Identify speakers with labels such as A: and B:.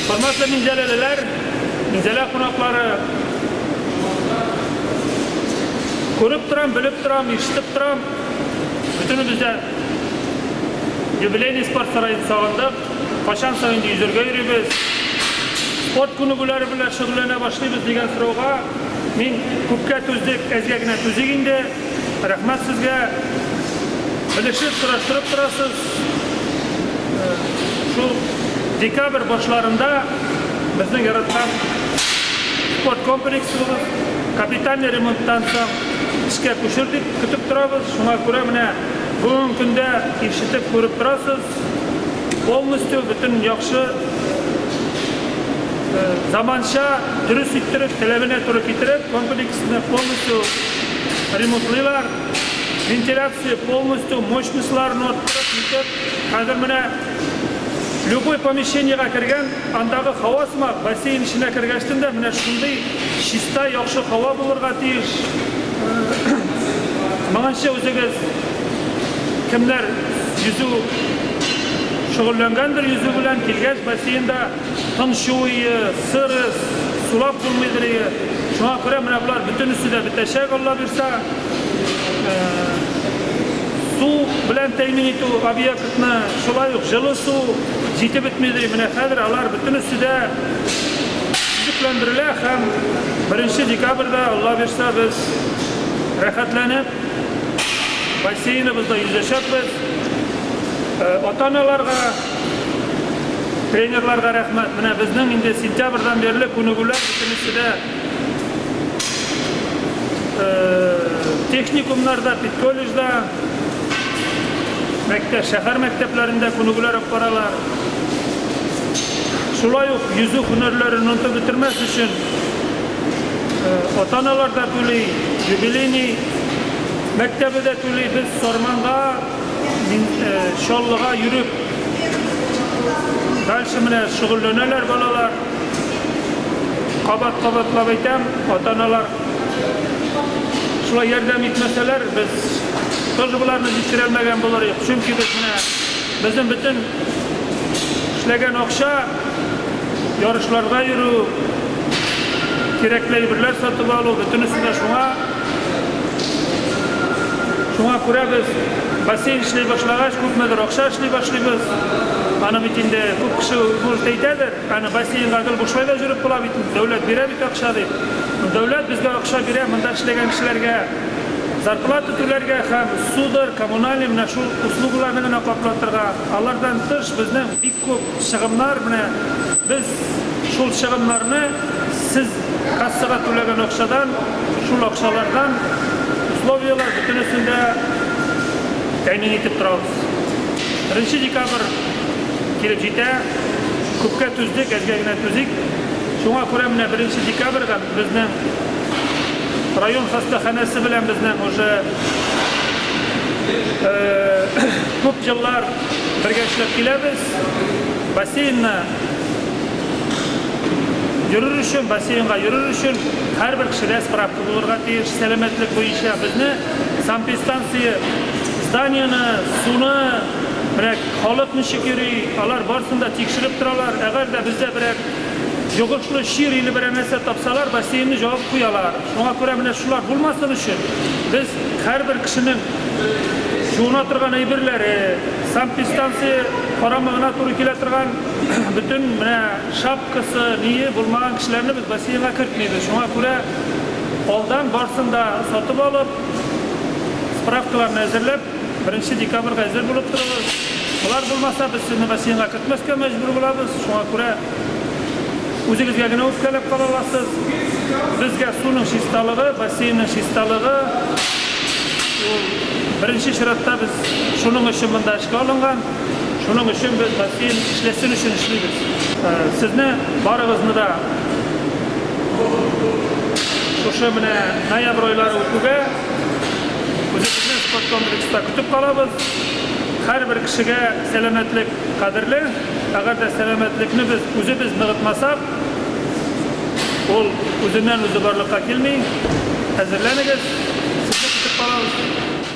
A: Хөрмәтле минзәләлеләр, минзәлә кунаклары! Күреп торам, белеп торам, ишетеп торам, бөтенебез дә юбилейный спорт сараен сагындык. Кайчан соң инде йөзәргә йөрибез, спорт күнегүләре белән шөгыльләнә башлыйбыз дигән сорауга мин күпкә түздек, әзгә генә түзик инде. Рәхмәт сезгә, белешеп, сораштырып торасыз. Шул декабрь башларында безнең яраткан спорт комплексы булып, капитальный ремонттан соң эшкә күчер дип көтеп торабыз. Шуңа күрә менә бүгенге көндә ишетеп, күреп торасыз, полностью бөтен яхшы, заманча, дөрес иттереп, таләбенә туры китереп, комплексны полностью ремонтлыйлар. Вентиляция полностью мощностьларын арттырып итеп, хәзер менә любой помещениегә кергән, андагы һава сымак, бассейн эченә кергәчтен дә менә шундый чиста, яхшы һава булырга тиеш. Моңынчы үзегез кемнәр йөзү шөгыльләнгәндер, йөзү белән килгәч бассейнда, Тынчуые, сыры, сулап булмыйдырые. Шуңа күрә менә болар бөтенесе дә бетәчәк, Алла бирса. Су белән тәэмин итү объектны, шулай ук җылы су җитеп бетмидырые. Менә хәзер алар бөтенесе дә төзекләндерелә һәм беренче декабрьдә, Алла бирса, без рәхәтләнеп бассейныбызда йөзәчәкбез. Ата-аналарга. Тренерларга рәхмәт. Менә безнең инде сентябрьдан бирле күнегүләр бөтенесе дә техникумнарда, педколледжда, мәктәп, шәһәр мәктәпләрендә күнегүләр алып баралар. Шулай ук йөзү һөнәрләрен онытып бетермәс өчен ата-аналар да түли, юбилейный мәктәбе дә түли. Без Сарманга Мин Чаллыга йөреп, дальше менә шөгыльләнәләр балалар. Кабат-кабатлап әйтәм, ата-аналар шулай ярдәм итмәсәләр, без тоже боларны җиткерәлмәгән булыр идек. Чөнки без менә безнең бөтен эшләгән акча ярышларга йөрү, кирәкле әйберләр сатып алу, бөтенесе дә шуңа Шуңа күрә без бассейн эшли башлагач, күпмедер акча эшли башлыйбыз. Аны бит инде күп кеше булып әйтәдер, аны бассейнга гел бушлай да җөреп була бит, дәүләт бирә бит акча дип. Дәүләт безгә акча бирә монда эшләгән кешеләргә зарплата түләргә һәм судыр, коммунальный менә шул услугыларны гына каплатырга. Алардан тыш безнең бик Күп чыгымнар, менә без шул чыгымнарны сез кассага түләгән акчадан, шул акчалардан условияләр бөтенесен дә тәэмин итеп торабыз. Беренче декабрь килеп җитә, күпкә түздек, әзгә генә түзик. Шуңа күрә менә беренче декабрьдән безнең район хастаханәсе белән безнең уже күп еллар, Бергә эшләп киләбез. Бассейнны йөрер өчен, бассейнга йөрер өчен һәрбер кешедә справка булырга тиеш сәламәтлек буенча. Безне санпистанция зданиены, суны, менә халык ничек йөри, алар барсын да тикшереп торалар. Әгәр дә бездә берәр йогышлы чир или берәр нәрсә тапсалар, бассейнны җавып куялар. Шуңа күрә менә шулар булмасын өчен, без һәрбер кешенең җуына торган әйберләре, санпидстанция карамагына туры килә торган бөтен менә шапкасы, ние булмаган кешеләрне без бассейнга кертмибез. Шуңа күрә алдан барсын да сатып алып, справкаларны әзерләп, беренче декабрьгә әзер булып торыгыз. Болар булмаса, без сезне бассейнга кертмәскә мәҗбүр булабыз. Шуңа күрә. Үзегезгә генә үпкәләп кала аласыз. Безгә суның чисталыгы, бассейнның чисталыгы, ул беренче чиратта без шуның өчен монда эшкә алынган, шуның өчен без бассейн эшләсен өчен эшлибез. Сезне барыгызны да шушы менә ноябрь айлары үтүгә үзебезнең спорткомплекста көтеп калабыз. Һәрбер кешегә сәламәтлек. Кадерле, әгәр дә сәламәтлекне без үзебез ныгытмасак, ул үзеннән-үзе барлыкка килми. Әзерләнегез, сезне көтеп калабыз!